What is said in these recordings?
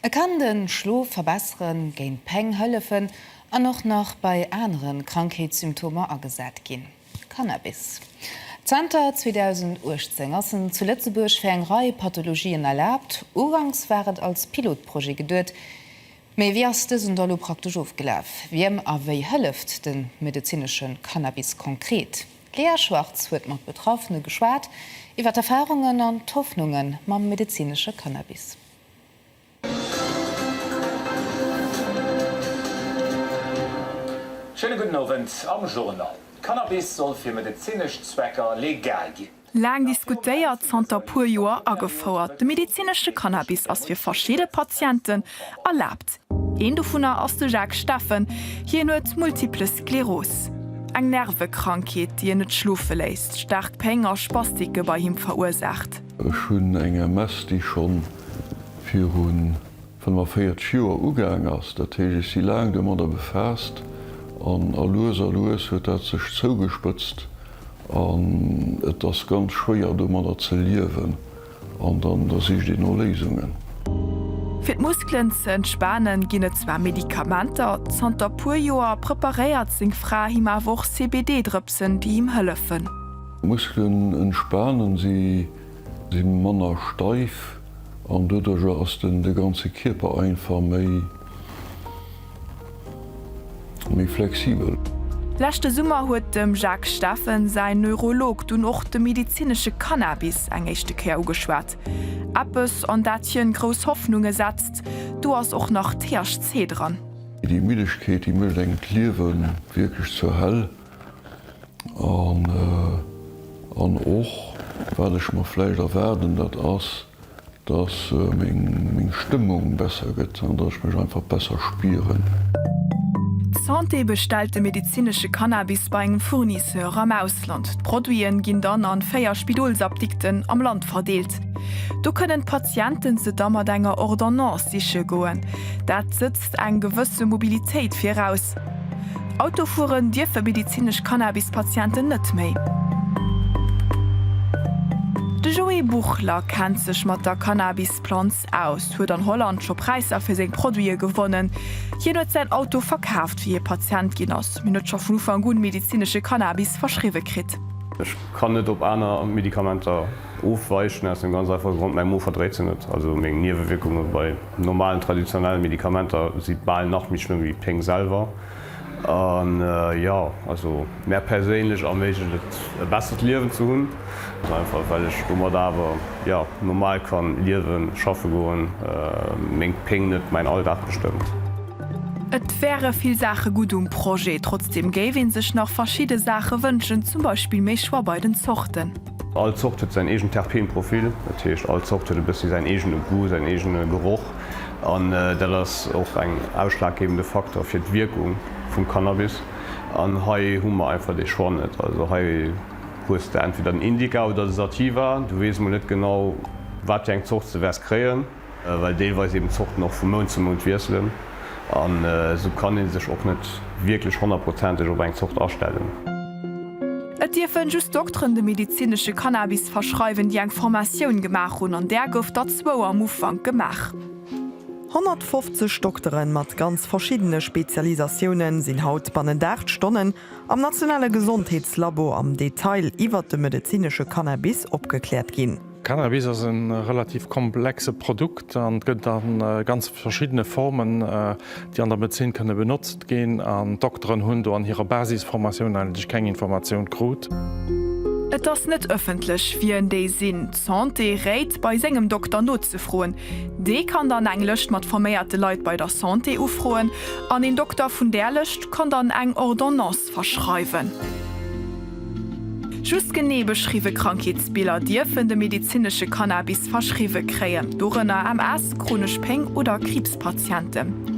E kann de Schlof verbesseren, géint Péng hëllefen an och nach bei anere Krankheetssymptomer agesat ginn. Cannabis. Zanter 2018 ass en zu Lëtzebuerg fir eng Rei Pathologien erlaabt. Uganks war et als Pilotprojet geduet. Mee wéi ass dësen da lo praktesch ofgelaf? Wiem a wéi hëlleft de medezinesche Cannabis konkret? D'Lea Schwartz huet mat Betraffene geschwat iwwer d'Erfarungen an d'Hoffnunge mam medezinesche Cannabis. Schéine gudden Owend. Am Journal, Cannabis soll fir medezinesch Zwecker legal ginn. Laang diskutéiert, zanter puer Joer agefouert, de medezinesche Cannabis ass fir verschidde Patienten erlaabt. Een dovunner ass de Jacques Steffen. Hien huet Multiple Skleros, eng Nervekrankheet, déi en net schlofe léisst, staark Péng a Spastike bei him verursaacht. Ech hunn eng MS, déi scho viru 45 Joer ugaang ass. Dat heescht, ech si laang domadder befaasst an a lues a lues huet dat sech zougespëtzt an et ass ganz schwéier domadder ze liewen. An dann da sicht een no Léisungen. Fir d'Muskelen ze entspanen ginn et zwar Medikamenter, zanter puer Joer preparéiert seng Fra him awer och CBD-Drëpsen, déi him hëllefen. D'Muskelen entspanen, si si manner steif an doduercher ass den de ganze Kierper einfach méi Méi flexibel. Leschte Summer huet dem Jacques Steffen säin Neurolog dunn och de medezinesche Cannabis eng éischte Kéier ugeschwat. Eppes, an dat hien grouss Hoffnunge setzt, do ass och nach THC dran. Déi Middegkeet, déi mécht engem d'Liewe wierklech zur Hell. An och, wat ech mer vläicht erwaarden, dat ass. Dass meng Stëmmung besser gëtt an dass ech mech einfach besser spieren. D'Santé bestellt de medezinesche Cannabis bei engem Fournisseur am Ausland. D'Produiten ginn dann an 4 Spidolsapdikten am Land verdeelt. Do kënnen d'Patienten se da mat enger Ordonnance siche goen. Dat sëtzt eng gewësse Mobilitéit viraus. Auto fueren dierfe medizinesch Cannabis-Patienten net méi. De Joé Buchler kennt sech mat der Cannabis-Planz aus, huet an Holland scho Präisser fir seng Produite gewonnen. Hien huet säin Auto verkaaft, wéi hie Patient ginn ass, mee huet scho vun Ufank un medizinesche Cannabis verschriwwe kritt. Ech kann net op aner Medikamenter Ofwäichen aus dem ganz einfache Grond, mäi Mo verdréit se net. Also meng Niewewierkunge bei normalen traditionelle Medikamenter si bal nach méi schlëmm wéi d'Péng selwer. An jo, also mär perséinlech erméiglecht et e bessert Liewen ze hunn, ganz einfach well ech domat awer jo normal kann liewen, schaffe goen, meng Péng net mäin Alldag bestëmmt. Et wäre vill Saache gutt um Projet, trotzdeem géif ee sech nach verschidde Saache wënschen, zum Beispill méi Choix bei den Zorten. All Zort huet säin eegent Terpeenprofil, dat heescht all Zort huet e bëssi säin eegene Goût, säin eegene Geroch an dat ass och eng ausschlaggebende Faktor fir d'Wierkung vum Cannabis an hei hu mer einfach dee Choix net. Also hei hues de entweder den Indica oder de Sativa, du weess mol net genau wat fir eng Zort s de wäers kréien. well deelweis eben d'Zorten och vu Mount zu Mount wiesselen an esou kann ee sech och net wierklech honnertprozenteg op eng Zort astellen. Et dierfe just Dokteren de medezinesche Cannabis verschreiwen, déi eng Formatioun gemaach hunn, an där gouf der zwou am Ufank gemaach. 150 Doktere mat ganz verschiddene Spezialisatioune sinn haut bannent 8 Stonnen am nationale Gesondheetslabo am Detail iwwert de medezinesche Cannabis opgekläert ginn. Cannabis ass e relativ komplexe Produkt an et gëtt a ganz verschiddene Formen, déi an der Medezin kënne benotzt ginn. An d'Dokteren hunn do an hirer Basisformatioun eigentlech keng Informatioun krut. Et ass net ëffentlech, wien déi sinn. D'Santé réit, bei sengem Dokter nozefroen. Dee kann dann eng Lëscht mat forméierte Leit bei der Santé ufroen an een Dokter vun där Lëscht kann dann eng Ordonnance. verschreiwen. Just genee beschriwwe Krankheetsbiller dierfen de medezinesche Cannabis verschriwwe kréien, dorënner MS, chronesch Péng oder Kriibspatienten.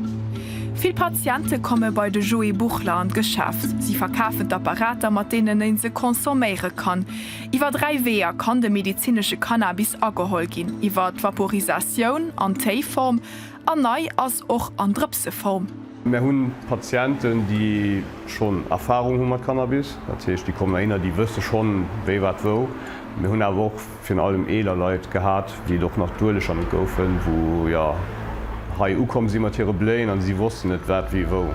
Vill Patiente komme bei de Joé Buchler an d'Geschäft. Si verkafen d'Apparater, mat deenen e se consomméiere kann. Iwwer dräi Weeër kann de medezinesche Cannabis ageholl ginn, iwwer d'Vaporisatioun an Téiform, an nei ass och an Drëpseform. Mär hunn Patienten, déi schonn Erfarung hu mat Cannabis. Dat heescht, déi kommen heihinner, déi wësse schonn, wéi, wat, wou. Mir hunn awer och virun allem eeler Leit gehat, déi et och nach duerlech ermit goufen, wou, jo, hei ukomm si mat hire Bléien a si wossten net, wat, wéi, wou.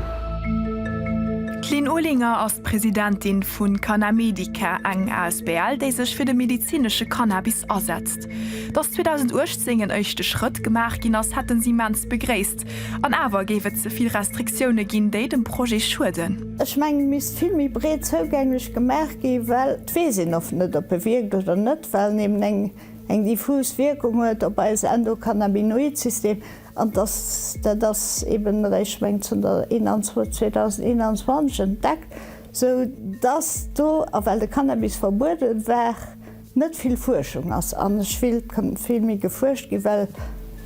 D'Lynn Olinger ass d'Presidentin vu Canamedica, eng asbl, déi sech fir de medezinesche Cannabis asetzt. Dass 2018 en éischte Schrëtt gemaach ginn ass, hätte si immens begréisst. An awer géif et ze vill Restriktioune ginn, déi dem Projet schueden. Ech mengen, et misst vill méi breet zougänglech gemaach ginn, well et weess een oft net, ob e wierkt oder net, well en eben eng diffus Wierkung huet op eis Endokannabinoid-System. An dass, dat ass eben eréischt, ech mengen, zënter 2021 entdeckt, esou dass do, a well de Cannabis verbuede war, Net vill Fuerschung ass an ech will et kënnt vill méi gefuerscht ginn, well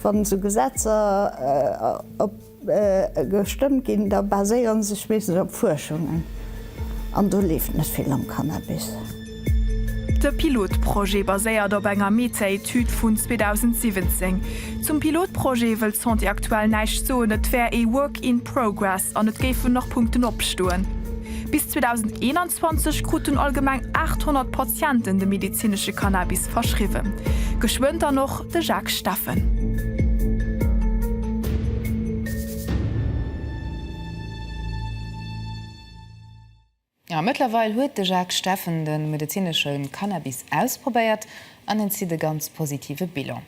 wann esou Gesetzer op gestëmmt ginn, da baséieren sech meeschtens op Fuerschungen an do leeft net vill am Cannabis. De Pilotprojet baséiert op enger Meta-Etüd vun 2017. Zum Pilotprojet wëll d'Santé aktuell näischt soen, et wär ee Work in progress an et géifen nach Punkten opstoen. Bis 2021 kruten allgemeng 800 Patienten de medezinesche Cannabis verschriwwen. Geschwënn dann och de Jacques Steffen. A mëttlerweil huet de Jacques Steffen de medezinesche Cannabis ausprobéiert an en zitt e ganz positive Bilan.